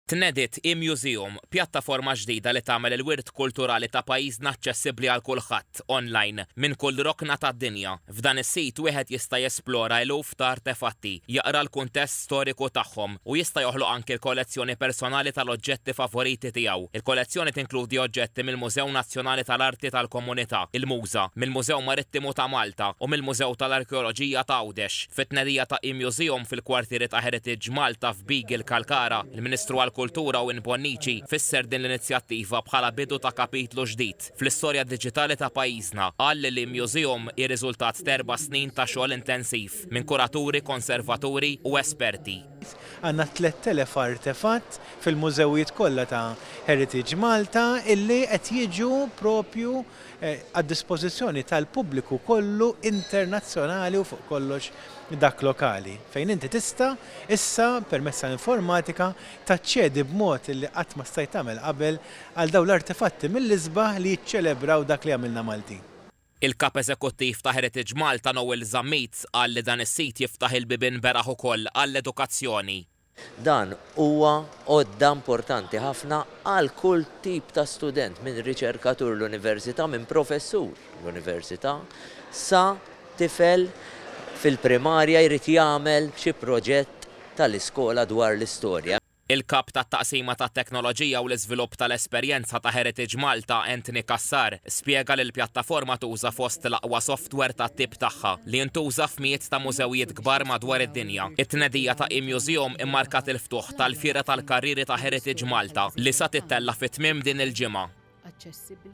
Tnediet e-Museum, pjattaforma ġdida li tagħmel il-wirt kulturali ta' pajjiżna aċċessibbli għal kulħadd, online, minn kull rokna tad-dinja. F'dan is-sit wieħed jista' jesplora eluf ta' artefatti, jaqra l-kuntest storiku tagħhom, u jista' joħloq anki l-kollezzjoni personali tal-oġġetti favoriti tiegħu. Il-kollezzjoni tinkludi oġġetti mill-Mużew Nazzjonali tal-Arti tal-Komunità, il-MUSA, mill-Mużew Marittimu ta' Malta u mill-Mużew tal-Arkeoloġija ta' Għawdex. Fit-tnedija ta' e-Museum fil-kwartieri ta' Heritage Malta, Beagle Kalkara, il-Ministru għall-Kultura u Inbonnici fisser din l-inizjattiva bħala bidu ta' kapitlu ġdid fl-istorja diġitali ta' pajjiżna. Qal li l-e-Museum hi riżultat t'erba' snin ta' xogħol intensiv minn kuraturi, konservaturi u esperti. Għandna tlett elef artefatt fil-mużewijiet kollha ta' Heritage Malta illi qed jiġu propju għad-dispożizzjoni tal-pubbliku kollu internazzjonali u fuq kollox dak lokali, fejn inti tista' issa permezz ta' informatika taċċedi b'mod li qatt ma stajt tagħmel qabel għal dawn l-artefatti mill-isbaħ li jiċċelebraw dak li għamilna Maltin. Il-Kap Eżekuttiv ta' Heritage Malta Noel Zammit qal li dan is-sit jiftaħ il-bibien beraħ ukoll għall-edukazzjoni. Dan huwa għodda importanti ħafna għal kull tip ta' student, minn riċerkatur l-Università, minn professur l-Università, sa tifel fil-primarja jrid jagħmel xi proġett tal-iskola dwar l-istorja. Il-Kap tat-Taqsima tat-Teknoloġija u l-Iżvilupp tal-Esperjenza ta' Heritage Malta, Anthony Cassar, spjega li l-pjattaforma tuża fost l-aqwa softwer tat-tip tagħha, li jintuża f'mijiet ta' mużewijiet, kbar madwar id-dinja, it-tnedija ta' e-Museum immarkat il-ftuħ tal-Fiera tal-Karrieri ta' Heritage Malta li sa tittella' fi tmiem din il-ġimgħa.